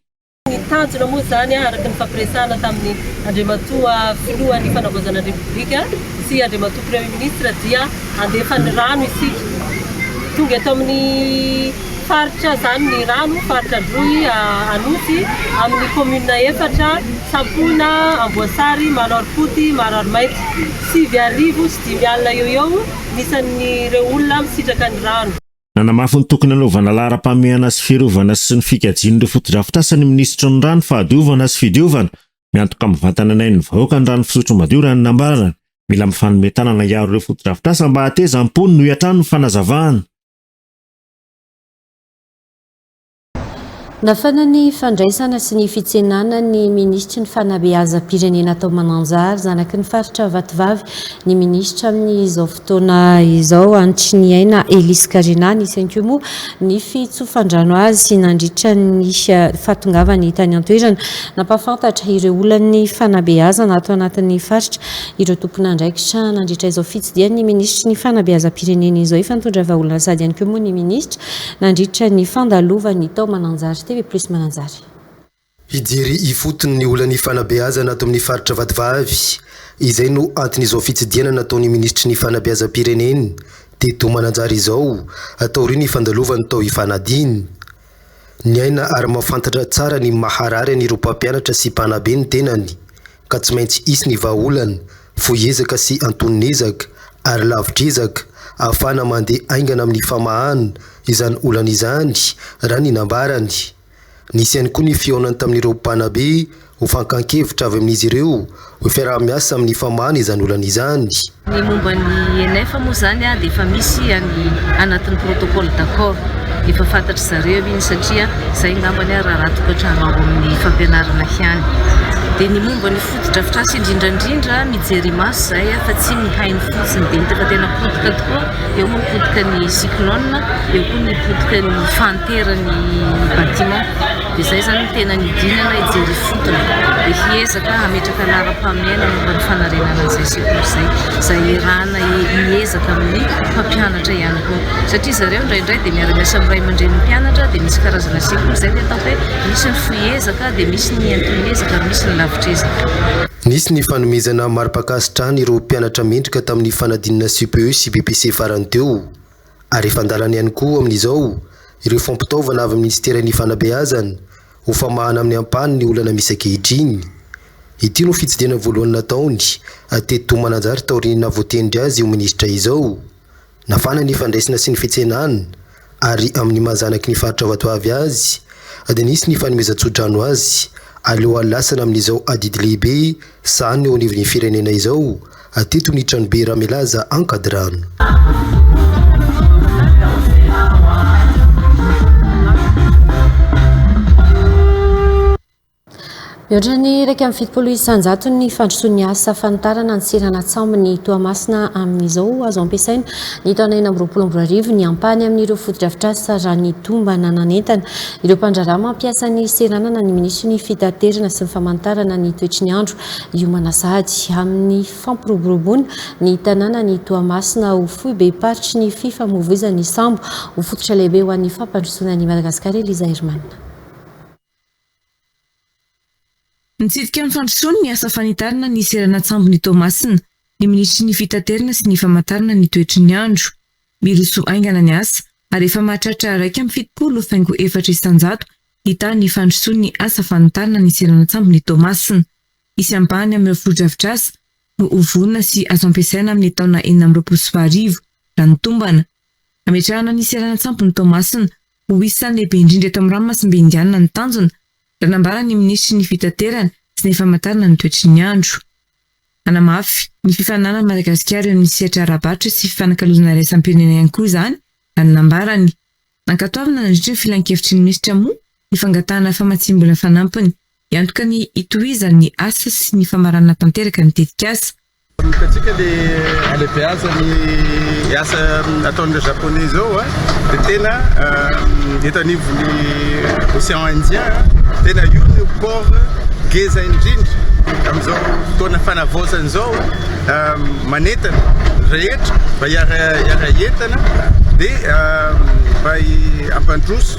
Ny tanjona moa izany araka ny fampiresahana tamin'ny Andriamatoa Filohan'ny Fanavaozana ny Repoblika sy Andriamatoa Premier Ministre dia handefa ny rano isika. Tonga eto amin'ny faritra izany ny rano, faritra Androy, Anosy, amin'ny commune efatra, Sampona, Amboasary, Maroarifoty, Maroarimaitso. Sivy arivo sy dimy alina eo ho eo ny isan'ireo olona misitraka ny rano. Nanamafy ny tokony hanaovana laharam-pahamehana sy fiarovana sy ny fikajian'ireo fotodrafitrasa ny minisitry ny Rano, Fahadiovana sy Fidiovana. Miantoka mivantana ny ain'ny vahoaka ny rano fisotro madio raha ny nambarany. Mila mifanome tanana hiaro ireo fotodrafitrasa mba hahatezam-pony, noho hatrany ny fanazavana. Nafana ny fandraisana sy ny fitsenana ny Minisitry ny Fanabeazam-pirenena tao Mananjary, zanaky ny Faritra Vatovavy, ny Minisitra amin'izao fotoana izao, Andriniaina Elisy Karina. Nisy ihany koa moa ny fitsofan-drano azy nandritra ny fahatongavany tany an-toerana. Nampahafantatra ireo olan'ny fanabeazana ato anatin'ny Faritra ireo tompon'andraikitra nandritra izao fitsidihany ny Minisitry ny Fanabeazam-pirenena izao efa nitondra vahaolana sady ihany koa moa ny Minisitra Nandritra ny fandalovan'ny tao Mananjary TV plus Mananjary. Hijery ifotony ny olan'ny fanabeazana ato amin'ny faritra Vatovavy. Izay no anton'izao fitsidihana nataon'ny minisitry ny fanabeazam-pirenena teto Mananjary izao taorian'ny fandalovany tao Ifanadina. Niaina ary mahafantatra tsara ny maharary an'ireo mpampianatra sy mpanabe ny tenany ka tsy maintsy hisy ny vahaolana Fohy ezaka sy antonon'ezaka ary lavitr'ezaka ahafahana mandeha haingana amin'ny famahana izany olana izany, raha ny nambarany. Nisy ihany koa ny fihaonany tamin'ireo mpanabe ho fankan-kevitra avy amin'izy ireo ho fiaraha-miasa amin'ny famahana izany olana izany. Ny momba ny ENF moa izany dia efa misy any anatin'ny protocole d'accord, efa fantatry zareo iny satria izay angambany ary raha raha tokantrano ao amin'ny fampianarana ihany. Dia ny momba ny. Fotodrafitrasa indrindra indrindra mijery imaso zay fa tsy mihaino fotsiny de hitaka tena potika tokoa eo moa ny potika ny cyclone eo koa ny potika ny fantere ny bâtiment de zay zany ny tena nidinana hijery ifotony de hiezaka hametraka laharam-pahamehana momba ny fanarenana an'izay sekoly izay zay erana hiezaka amin'ny mpampianatra ihany koa satria zareo indraindray de miara-miasa amin'ny ray aman-drenin'ny mpianatra de misy karazana sekoly zay ny atao hoe Misy ny fohy ezaka dia misy ny anton'ny ezaka ary misy ny lavitr'ezaka. Nisy ny fanomezana mari-pankasitrahana ireo mpianatra mendrika tamin'ny fanadinana CPE sy BEPC farany teo. Ary efa an-dalana ihany koa amin'izao ireo fampitaovana avy amin'ny Minisiteran'ny Fanabeazana ho famahana amin'ny ampahany ny olana misy ankehitriny. Ity no fitsidihana voalohany nataony teto Mananjary taorian'ny nahavoatendry azy ho minisitra izao. Nafana ny fandraisana sy ny fitsenana ary amin'ny maha zanaky ny faritra Vatovavy azy dia nisy ny fanomezan-tsodrano azy alohan'ny lasana amin'izao adidy lehibe sahana eo anivon'ny firenena izao teto ny tranobe Ramilaza Ankadirano. Mihoatra ny iraika amby fitopolo isan-jato ny fandrosoan'ny asa fanitarana ny seranan-tsambon'i Toamasina amin'izao. Azo ampiasaina ny taona enina amby roapolo amby roa arivo ny ampahany amin'ireo fotodrafitrasa raha ny tombana nanentana ireo mpandraharaha mampiasa ny seranana ny minisitry ny Fitaterana sy ny famanitarana ny toetry ny andro hiomana sahady amin'ny fampiroboroboana ny tanànan'i Toamasina ho foibem-paritry ny fifamoivoizan'ny sambo ho fototra lehibe ho an'ny fampandrosoana an'i Madagasikara Eliza Herman. Nitsidika ny fandrosoany ny asa fanitarana ny seranan-tsambon' i Toamasina ny minisitry ny Fitaterana sy ny famantarana ny toetry ny andro. Miroso haingana ny asa ary efa mahatratra iraika amby fitopolo faingo efatra isan-jato hita ny fandrosoan' ny asa fanitarana ny seranan-tsambon' i Toamasina. Hisy ampahany amin' ireo fotodrafitrasa no ho vonona sy azo ampiasaina amin' ny taona enina amby roapolo sy roa arivo, raha ny tombana. Hametrahana ny seranan-tsampon'i Toamasina ho isan'ny lehibe indrindra eto amin'ny ranomasimbe Indianina ny tanjona, raha nambaran'ny minisitry ny Fitaterana sy ny Famantarana ny toetry ny andro. Hanamafy ny fifaninanan'i Madagasikara eo amin'ny sehatra ara-barotra sy fifanakalozana iraisam-pirenena ihany koa izany, raha ny nambarany. Nankatoavina nandritra ny filankevitry ny minisitra moa ny fangatahana famatsiam-bola fanampiny hiantoka ny hitohizan'ny asa sy ny famaranana tanteraka ny tetikasa. Hitantsika le halebeazan'ny asa ataon'ireo Japonais izao a, dia tena eto anivon'ny Ocean Indien, tena io no port ngeza indrindra amin'izao fotoana fanavaozana izao, manentana rehetra mba hiara-hiara hientana dia mba hampandroso.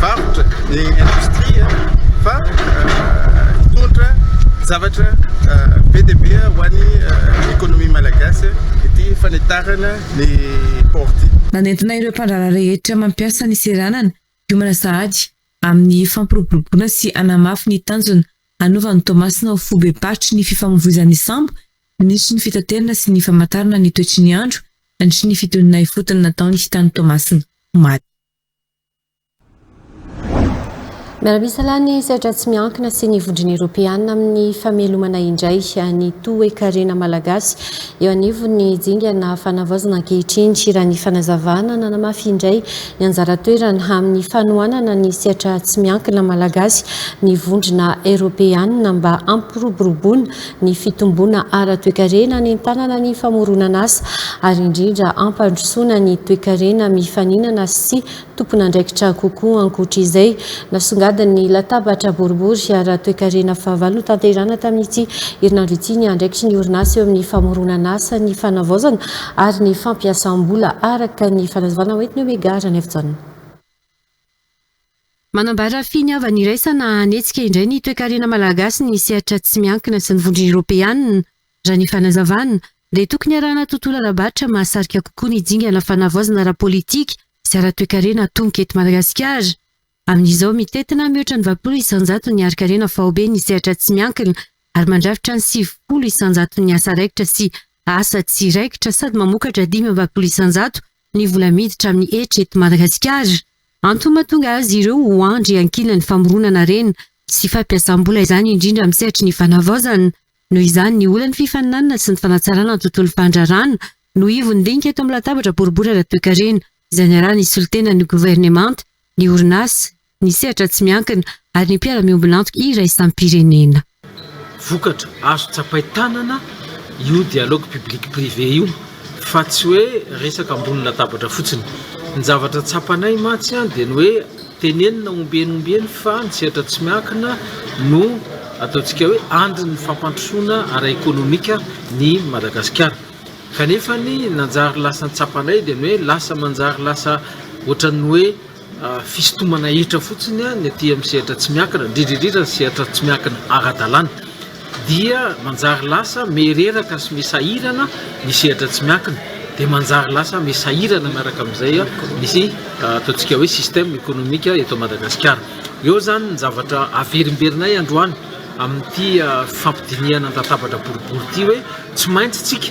varotra ny indostria fa hitondra zavatra be dia be ho an'ny ekonomia malagasy ity fanitahana ny port ity. Nanentina ireo mpandraharaha rehetra mampiasa ny seranana hiomana sahady amin'ny fampiroboroboana sy hanamafy ny tanjona hanova an'i Toamasina ho foibem-paritry ny fifamoivoizan'ny sambo, minisitry ny fitaterana sy ny famantarana ny toetry ny andro nandritry ny fitoniana ifotony nataony tany Toamasina. maty. Miara-misalahy ny sehatra tsy miankina sy ny vondrona eropeanina amin'ny famelomana indray ny toe-karena malagasy eo anivon'ny dingana fanavaozana ankehitriny raha ny fanazavana nanamafy indray ny anjara toerana amin'ny fanohanana ny sehatra tsy miankina malagasy ny vondrona eropeanina mba hampiroboroboana ny fitomboana ara-toekarena hanentanana ny famoronan'asa ary indrindra hampandrosoana ny toekarena mifaninana sy tompon'andraikitra kokoa ankoatra izay nasongadin'ny latabatra boribory ara-toekarena fahavalo notanterahina tamin'ity herinandro ity ny andraikitry ny orinasa eo amin'ny famoronan'asa ny fanavaozana ary ny fampiasam-bola araka ny fanazavana hoentin'ny Omega Ranaivojaona. Manambara finiavana iraisana hanetsika indray ny toekarena malagasy ny sehatra tsy miankina sy ny vondrona eropeanina, raha ny fanazavana, dia tokony arahana tontolo ara-barotra mahasarika kokoa ny dingana fanavaozana ara-politika sy ara-toekarena atomboka eto Madagasikara. Amin'izao, mitentina mihoatra ny valopolo isan-jato ny harin-karena faobe ny sehatra tsy miankina ary mandrafitra ny sivifolo isan-jaton'ny asa raikitra sy asa tsy raikitra sady mamokatra dimy amby valopolo isan-jato ny vola miditra amin'ny hetra eto Madagasikara. Antony mahatonga azy ireo ho andry iankinan'ny famoronana harena sy fampiasam-bola izany indrindra amin'ny sehatry ny fanavaozana. Noho izany, ny olan'ny fifaninanana sy ny fanatsarana ny tontolon'ny fandrarana no ivon-dinika eto amin'ny latabatra boribory ara-toekarena izay niaraha-nisolo tena ny governemanta, ny orinasa, ny sehatra tsy miankina ary ny mpiara-miombon'antoka iraisam-pirenena. Vokatra azo tsapain-tanana io dialogue public-privé io fa tsy hoe resaka ambony latabatra fotsiny. Ny zavatra tsapanay mantsy dia ny hoe tenenina ombieny ombieny fa ny sehatra tsy miankina no ataontsika hoe andrin'ny fampandrosoana ara-ekonomika ny Madagasikara. Kanefa ny nanjary lasa ny tsapanay dia ny hoe lasa manjary lasa ohatran'ny hoe. fisintomana hetra fotsiny ny aty amin'ny sehatra tsy miankina, indrindra indrindra ny sehatra tsy miankina ara-dalàna, dia manjary lasa mihereraka sy misahirana ny sehatra tsy miankina, dia manjary lasa misahirana miaraka amin'izay ny ataontsika hoe système économique eto Madagasikara. Eo izany ny zavatra averimberinay androany amin'ity fifampidinihana an-databatra boribory ity hoe tsy maintsy isika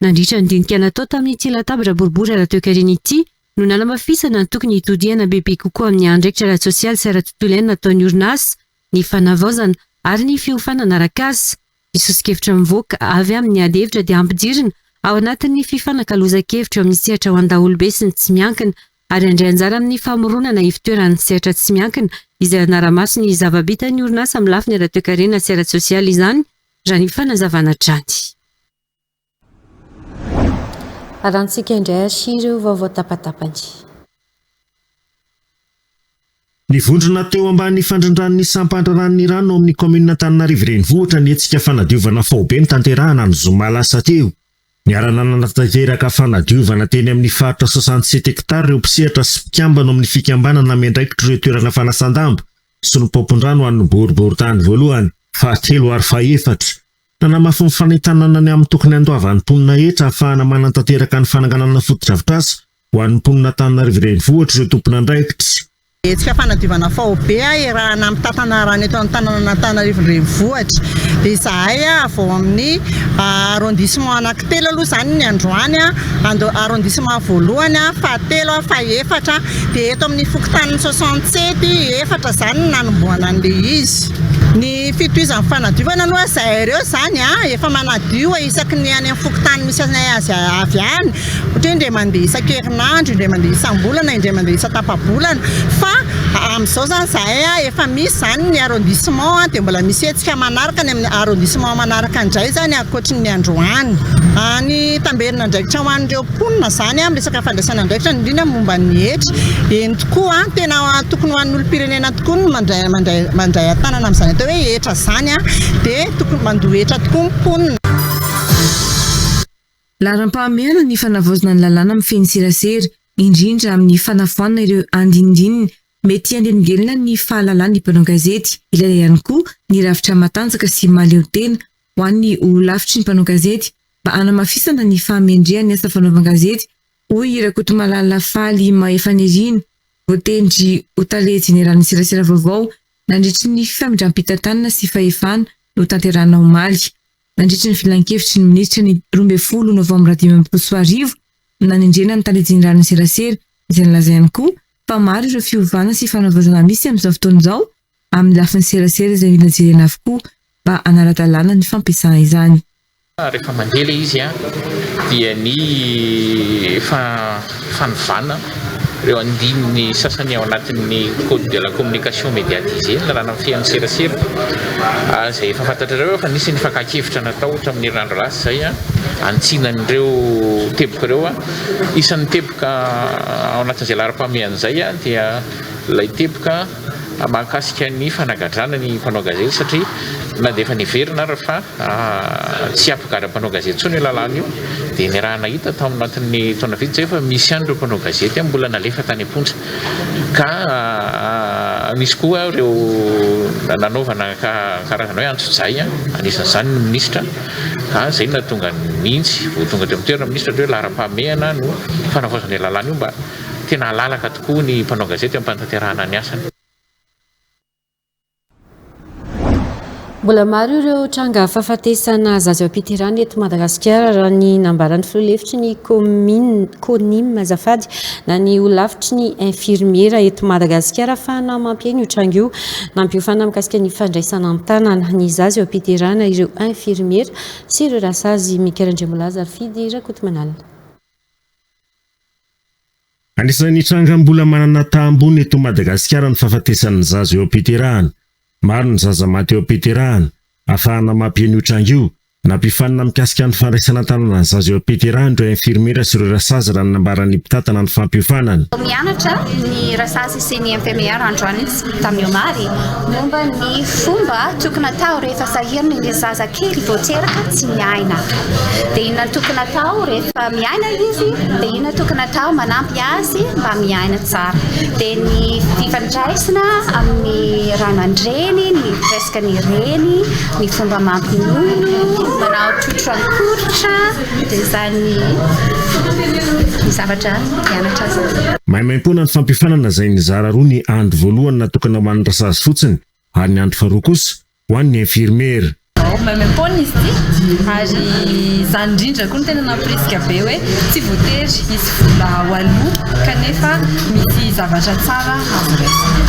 Nandritra ny dinika natao tamin'ity latabatra boribory ara-toekarena ity no nanamafisana ny tokony hitodihana bebe kokoa amin'ny andraikitra ara-tsosialy sy ara-tontolo iainana ataon'ny orinasa, ny fanavaozana ary ny fiofanana arak'asa. Ny soso-kevitra mivoaka avy amin'ny ady hevitra dia ampijirina ao anatin'ny fifanakalozan-kevitra eo amin'ny sehatra ho an-daholobe sy ny tsy miankina ary handray anjara amin'ny famoronana ivotoeran'ny sehatra tsy miankina izay hanara-maso ny zava-bitan'ny orinasa amin'ny lafiny ara-toekarena sy ara-tsosialy izany raha ny fanazavana hatrany. Alantsika indray asia ireo vaovao tapatapany. Ny vondrona teo ambany fandrindran'ny sampandra ranon'Iran ao amin'ny kaominina Antananarivo Renivohitra ny hetsika fanadiovana faobe notanterahana ny zoma lasa teo. Niara-nanantanteraka fanadiovana teny amin'ny faritra soixante sept hectares ireo mpisehatra sy mpikambana ao amin'ny fikambanana miandraikitr'ireo toerana fanasan-damba sy ny paompin-drano an'ny boriborintany voalohany, fahatelo ary fahefatra. Hanamafy ny fanentanana ny amin'ny tokony handoavan'ny mponina hetra hahafahana manantanteraka ny fananganana fotodrafitrasa ho an'ny mponina Antananarivo Renivohitra ireo tompon'andraikitra. Hetsika fanadiovana faobe iarahana amin'ny tantana rano eto amin'ny tananan'Antananarivo Renivohitra izahay avy ao amin'ny arrondissement anankitelo aloha izany ny androany, arrondissement voalohany, fahatelo, fahefatra dia eto amin'ny fokontanin'ny soixante sept efatra izany no nanombohana an'ilay izy. Fitohizan'ny fanadiovana aloha izahay ireo izany an, efa manadio isaky ny any amin'ny fokontany misy anay azy avy any, ohatra hoe indray mandeha isan-kerinandro, indray mandeha isam-bolana, indray mandeha isan-tapa-bolana fa amin'izao izany izahay an, efa misy izany ny arrondissement dia mbola misy hetsika manaraka any amin'ny arrondissement manaraka indray izany ankoatry ny androany. Ny tamberin'andraikitra ho an'ireo mponina izany amin'ny resaka fandraisana andraikitra indrindra momba ny hetra. Eny tokoa, tena tokony ho an'ny olom-pirenena tokoa ny mandray mandray mandray an-tanana amin'izany atao hoe hetra izany dia tokony mandoa hetra tokoa ny mponina. Laharam-pahamehana ny fanavaozana ny lalàna mifehy ny serasera, indrindra amin'ny fanafoanana ireo andinindininy mety haneligelina ny fahalalan'ny mpanao gazety. Ilaina ihany koa ny rafitra matanjaka sy mahaleo tena ho an'ny ho lafitry ny mpanao gazety mba hanamafisana ny fahamendrehan'ny asa fanaovan-gazety, hoy Rakotomalala Faly Mahefanirina, voatendry ho tale jeneralin'ny serasera vaovao nandritry ny famindram-pitantanana sy fahefana notanterahina omaly, nandritry ny filankevitry ny minisitra ny roa ambin'ny folo novambra dimy ambin'ny folo sy roa arivo, nanendrena ny tale jeneralin'ny serasera, izay nalazainy koa fa maro ireo fiovana sy fanavaozana misy amin'izao fotoana izao, amin'ny lafiny serasera izay mila jerena avokoa mba hanara-dalàna ny fampiasana izany. Rehefa mandeha ilay izy dia ny efa fanovana ireo andininy sasany ao anatin'ny code de la communication médiatisée, ny lalàna mifehy ny serasera, ary izay efa fantatrareo fa nisy ny fakan-kevitra natao hatramin'ny herinandro lasa izay hanitsiana an'ireo teboka ireo. Isan'ny teboka ao anatin'izay laharam-pahamehana izay dia ilay teboka. mahakasika ny fanagadrana ny mpanao gazety satria na dia efa niverina ary fa tsy hampigadra mpanao gazety intsony io lalàna io dia ny raha nahita tao anatin'ny taona vitsy izay fa misy ihany ireo mpanao gazety mbola nalefa tany am-ponja ka nisy koa ireo nanaovana karazana hoe antsojay anisan'izany ny minisitra ka izay nahatonga ny nintsy vao tonga teo amin'ny toerana minisitra hoe laharam-pahamehana no fanavaozana io lalàna io mba Tena alalaka tokoa ny mpanao gazety amin'ny fanatanterahana ny asany. Mbola maro ireo tranga fahafatesana zaza eo am-piterahana eto Madagasikara raha ny nambaran'ny filoha lefitry ny commune CONIM azafady na ny holafitry ny infirmiera eto Madagasikara fa na mampiaina io tranga io nampiofana mikasika ny fandraisana an-tanana ny zaza eo am-piterahana ireo infirmiera sy ireo rasazy Mikael Andriamolaza Fidy Rakotomanalina. Anisan'ny tranga mbola manana taha ambony eto Madagasikara ny fahafatesan'ny zaza eo am-piterahana. Maro ny zaza maty eo am-piterahana. Afahana mampihena io tranga io. Nampifanina mikasika ny fandraisana an-tanana ny zaza eo am-piterahana ireo infirmiera sy ireo rasazy raha ny nambaran'ny mpitantana ny fampiofanana. Vao mianatra ny rasazy sy ny infirmiera androany. tamin'ny omaly momba ny fomba tokony atao rehefa sahirana ilay zaza kely vao teraka tsy miaina. Dia inona no tokony atao rehefa miaina izy, dia inona tokony atao manampy azy mba miaina tsara. Dia ny fifandraisana amin'ny ray aman-dreny, ny resaka ny reny, ny fomba mampinono, manao totrankoritra. Dia izany zavatra nianatra izany. Maimaimpoana ny fampiofanana izay nizara roa ny andro voalohany natokana ho an'ny rasazy fotsiny ary ny andro faharoa kosa ho an'ny infirmiera. Maimaimpoana izy ity ary izany indrindra koa no tena namporisika be hoe tsy voatery hisy vola ho aloa kanefa misy zavatra tsara azo raisina.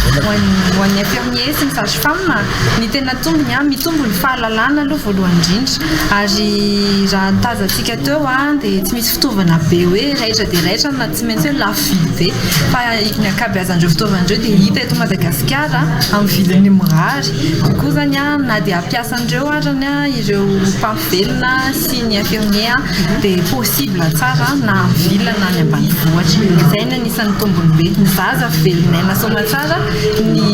Ho an'ny infirmiers sy ny sages femmes, ny tena tombony, mitombo ny fahalalana aloha voalohany indrindra. Ary raha ny tazantsika teo dia tsy misy fitaovana be hoe raitra dia raitra na tsy maintsy hoe lafo vidy be fa ny ankabeazan'ireo fitaovana ireo dia hita eto Madagasikara amin'ny vidiny mirary koa koa izany na dia ampiasan'ireo ary ireo mpampivelona sy ny infirmier dia possible tsara na amin'ny ville na any ambanivohitra. Izay no anisan'ny tombony be. Ny zaza velon'aina soamantsara, ny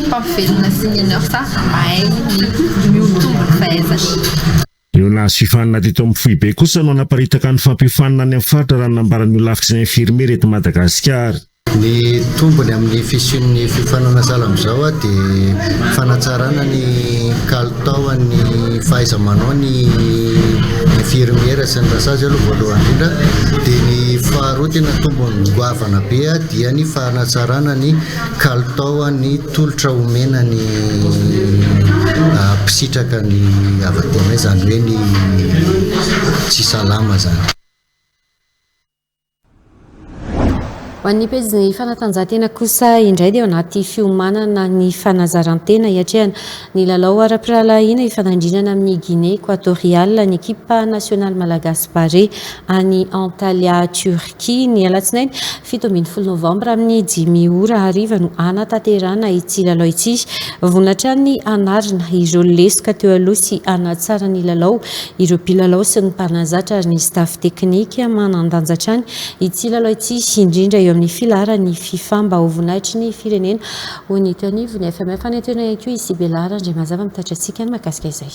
mpampivelona sy ny nurse. Mahay ny mihoa-tombo ny fahaizana. Ireo nahazo fifaninana teto amin'ny foibe kosa no hanaparitaka ny fampiofanana any amin'ny faritra raha ny nambaran'ny Holafitry ny Infirmiera eto Madagasikara. Ny tombony amin'ny fisian'ny fiofanana sahala amin'izao dia fanatsarana ny kalitaon'ny fahaiza-manao ny Infirmiera sy ny Rasazy aloha voalohany indrindra dia ny faharoa tena tombony goavana be dia ny fanatsarana ny kalitaon'ny Tolotra omena ny mpisitraka ny havadiana izany hoe ny tsy salama zany. Ho an'ny pejin'ny fanatanjahantena kosa indray dia ao anaty fiomanana ny fanazarantena hiatrehana ny lalao ara-pirahalahiana hifanandrinana amin'ny Guinée Equatoriale ny ekipa nasionaly malagasy Barea any Antalya Turin. Ky, ny alatsinainy fito ambin'ny folo novambra amin'ny dimy ora hariva no hanatanterahana ity lalao ity. Vonona hatrany ny hanarina ireo lesoka teo aloha sy hanatsara ny lalao ireo mpilalao sy ny mpanazatra ary ny staff teknika. Manan-danja hatrany ity lalao ity indrindra eo amin'ny filaharan'ny fifa mba ho voninahitry ny firenena, hoy ny teo anivon'ny FMF. Hanentena ihany koa i Sibela Randriamazava mitatitra antsika ny mahakasika izay.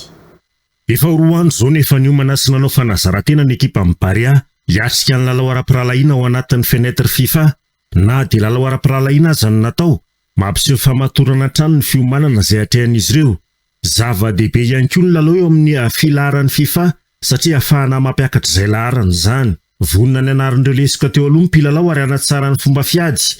Efa ho roa andro izao no efa niomana sy nanao fanazaran-tena ny ekipan'ny Barea hiatrika ny lalao ara-pirahalahiana ao anatin'ny fenêtre Fifa. Na dia lalao ara-pirahalahiana aza no natao, mampiseho famatorana hatrany ny fiomanana izay atrehan'izy ireo. Zava-dehibe ihany koa ny lalao eo amin'ny filaharan'ny Fifa satria hahafahana mampiakatra izay laharana izany. Vonona ny hanarin'ireo lesoka teo aloha ny mpilalao ary hanatsara ny fomba fiady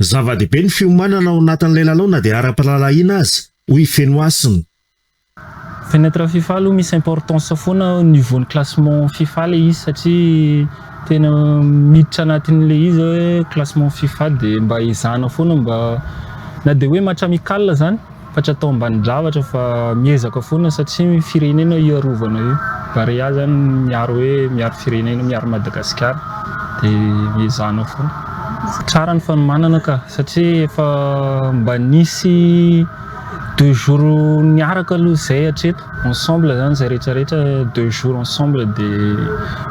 Zava-dehibe ny fiomanana ao anatin'ilay lalao na dia ara-pirahalahiana aza, hoy i Feno Hasina. Fenêtre fifa aloha misy importance foana au niveau ny classement fifa ilay izy satria tena miditra anatin'ilay izy hoe classement fifa dia mba ezahana foana mba na dia hoe match amical izany Fa tsy atao ambanin-javatra fa miezaka foana satria firenena io arovana io. Barea zany miaro hoe miaro firenena, miaro Madagasikara dia ezahana foana. Tsara ny fanomanana ka satria efa mba nisy deux jours niaraka aloha izay hatreto ensemble zany izay rehetra rehetra deux jours ensemble dia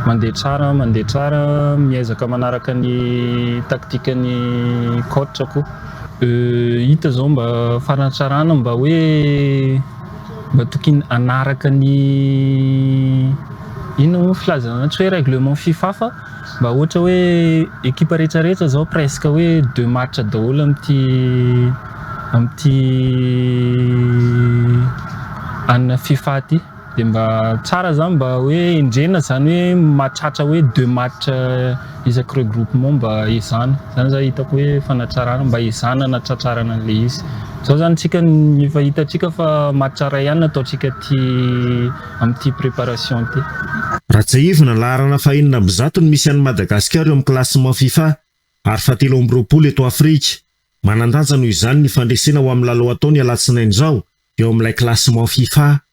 mandeha tsara mandeha tsara miezaka manaraka ny tactique ny coach koa. Hita zao mba fanatsarana mba hoe mba tokony hanaraka ny inona moa filazana an'io tsy hoe règlement fifa fa mba ohatra hoe ekipa rehetrarehetra zao presque hoe deux matchs daholo amin'ity amin'ity an'ny fifa ty. Dia mba tsara zany mba hoe endrena zany hoe mahatratra hoe deux match isaky regroupement mba ezahana. Zany za hitako hoe fanatsarana mba ezahana anatratrarana an'ilay izy. Zao zany tsika efa hitantsika fa match iray ihany no ataontsika aty amin'ity préparation ity. Rajaivina, laharana fahenina amby zato no misy an'i Madagasikara eo amin'ny classement Fifa ary fahatelo amby roapolo eto Afrika. Manan-danja noho izany ny fandresena ho amin'ny lalao atao ny alatsinainy izao eo amin'ilay classement Fifa.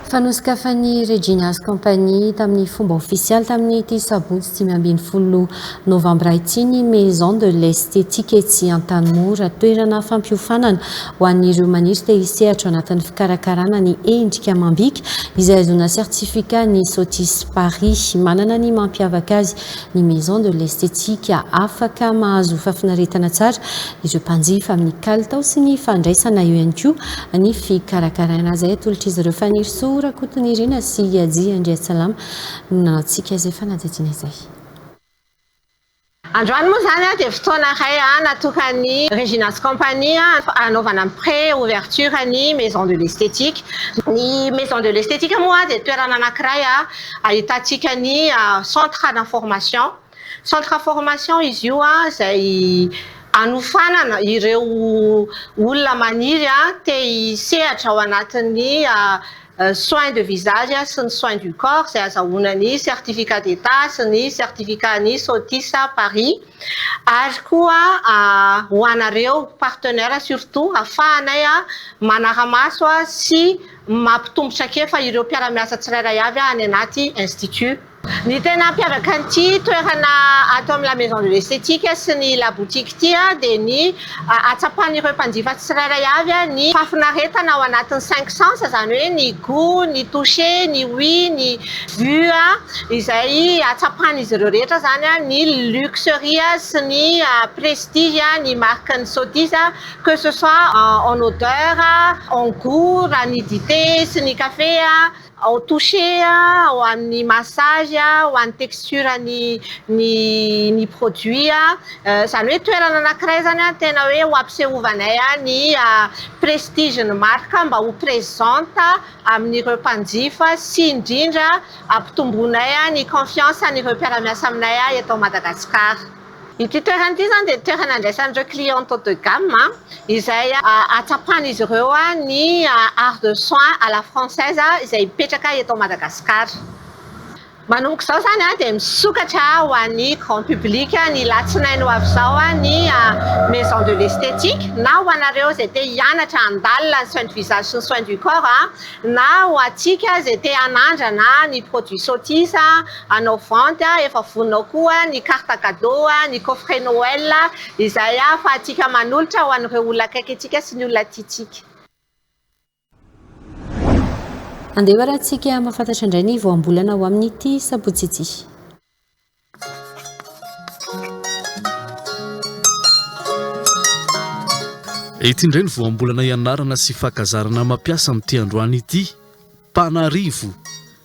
Fa nosokafan'i Regina's Company tamin'ny fomba ofisialy tamin'ity sabotsy dimy ambin'ny folo novambra ity ny Maison de l'Esthétique etsy Antanimora, toerana fampiofanana ho an'ireo maniry te hisehatra ao anatin'ny fikarakarana ny endrika amam-bika izay ahazoana certificat ny Sotis Paris. Manana ny mampiavaka azy ny Maison de l'Esthétique afaka mahazo fahafinaretana tsara ireo mpanjifa amin'ny kalitao sy ny fandraisana eo ihany koa ny fikarakaraina azy atolotr'izy ireo Fanirisoa Rakotonirina sy Haji Andriatsalama no nanantsika izay fanadihadiana izay. Androany moa izany dia fotoana iray natokan'ny Regina's Company hanaovana ny pré ouverture ny Maison de l'Esthétique. Ny Maison de l'Esthétique moa dia toerana anankiray. Ahitantsika ny centre ana formation, centre formation izy io izay anofanana ireo olona maniry te hisehatra ao anatin'ny soins de visage sy ny soins du corps izay azahoana ny certificat d'état sy ny certificat an'ny SOTIS Paris ary koa ho anareo partenaires surtout afahanay manara-maso sy mampitombo traikefa ireo mpiara-miasa tsirairay avy any anaty Institut. Ny tena hampiavaka an'ity toerana ato amin'ny La Maison de l'Esthétique sy ny La Boutique ity dia ny ahatsapan'ireo mpanjifa tsirairay avy ny fahafinaretana ao anatin'ny cinq sens, izany hoe ny gout, ny touché, ny ouï, ny vue, izay ahatsapan'izy ireo rehetra izany ny luxury sy ny prestige ny marque-n'ny Sothis. que ce soit en odeur, en gout raha ny dite sy ny kafe, en toucher ho an'ny massage, ho an'ny texture ny ny produit, izany hoe toerana anankiray izany tena hoe ho ampisehoovanay ny prestige ny marque mba ho presente amin'ireo mpanjifa sy indrindra ampitomboinay ny confiance an'ireo mpiara-miasa aminay eto Madagasikara. Ity toerana ity izany dia toerana andraisan'ireo clients haut de gamme izay ahatsapan'izy ireo ny art de soins à la française izay mipetraka eto Madagasikara. Manomboka izao izany dia misokatra ho an'ny grand public ny latsinainy ho avy izao ny maison de l'esthétique na ho anareo izay te hianatra handalina ny soins du visage sy ny soins du corps na ho antsika izay te hanandrana ny produits Sothis. Anao vente a, efa vonona koa ny carte cadeau, ny coffret Noël izay ahafahantsika manolotra ho an'ireo olona akaiky antsika sy ny olona tiantsika. Andeha harahantsika hamafantatra indray ny voambolana ho amin'ity sabotsy ity. Ity indray ny voambolana ianarana sy fankazarana mampiasa amin'ity androany ity. Mpanarivo,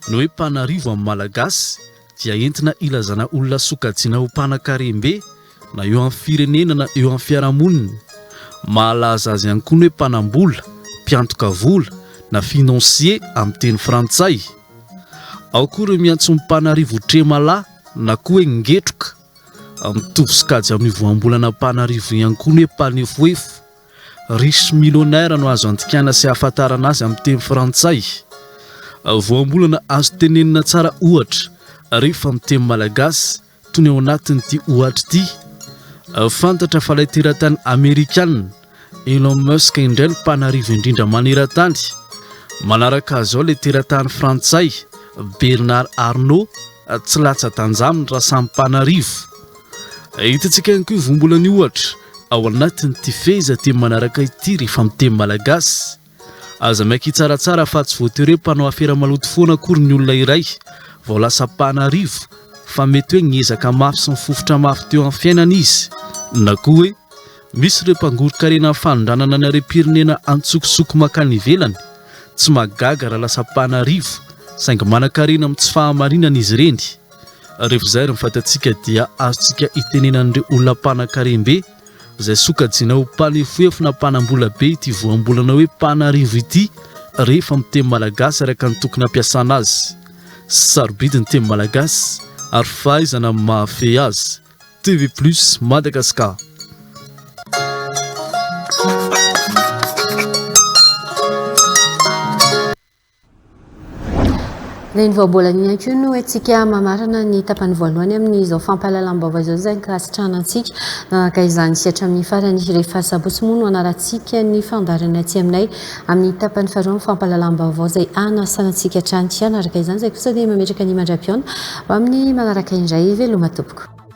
Ny hoe mpanarivo amin'ny Malagasy dia entina ilazana olona sokajiana ho mpanan-karem-be na eo amin'ny firenena na eo amin'ny fiarahamonina. Mahalaza azy ihany koa ny hoe mpanam-bola, mpiantoka vola, na financier amin'ny teny frantsay. Ao koa ireo miantso ny mpanarivo tremala na koa hoe ngetroka. Mitovy sokajy amin'io voambolana mpanarivo io ihany koa ny hoe mpanefoefo. Riche millionnaire no azo andikana sy ahafantarana azy amin'ny teny frantsay. Voambolana azo tenenina tsara ohatra rehefa amin'ny teny malagasy toy ny ao anatin'ity ohatra ity. Fantatra fa ilay teratany amerikana Elon Musk indray no mpanarivo indrindra maneran-tany. Manaraka azy ao ilay teratany frantsay Bernard Arnault, tsy latsa-tanjany raha samy mpanarivo. Ahitantsika ihany koa io vombolana io ohatra ao anatin'ity fehezanteny manaraka ity rehefa amin'ny teny malagasy. Aza miaiky hitsaratsara fa tsy voatery hoe mpanao afera maloto foana akory ny olona iray vao lasa mpanarivo fa mety hoe niezaka mafy sy nifofotra mafy teo amin'ny fiainana izy na koa hoe misy ireo mpangoron-karena amin'ny fanondranana ny harem-pirenena antsokosoko mankany ivelany. Tsy mahagaga raha lasa mpanarivo saingy manan-karena amin'ny tsy fahamarinana izy ireny. Rehefa izay ary ny fatantsika dia azontsika itenena an'ireo olona mpanan-karem-be izay sokajiana ho mpanefoefo na mpanam-bola be ity voambolana hoe mpanarivo ity rehefa amin'ny teny malagasy araka ny tokony hampiasana azy. Sarobidy ny teny malagasy ary fahaizana ny mahafehy azy. TV Plus Madagascar. Dia ny vaobolana ihany koa no entsika mamarana ny tapany voalohany amin'izao fampahalalam-baovao izao izay ankasitrahana antsika. Nanaraka izany isika hatramin'ny farany. Rehefa sabotsy moa no hanarantsika ny fandaharana aty aminay amin'ny tapany faharoa amin'ny fampahalalam-baovao izay hanasana antsika hatrany. Hanaraka izany izay kosa dia mametraka ny mandra-pihaona ho amin'ny manaraka indray. Veloma tompoko.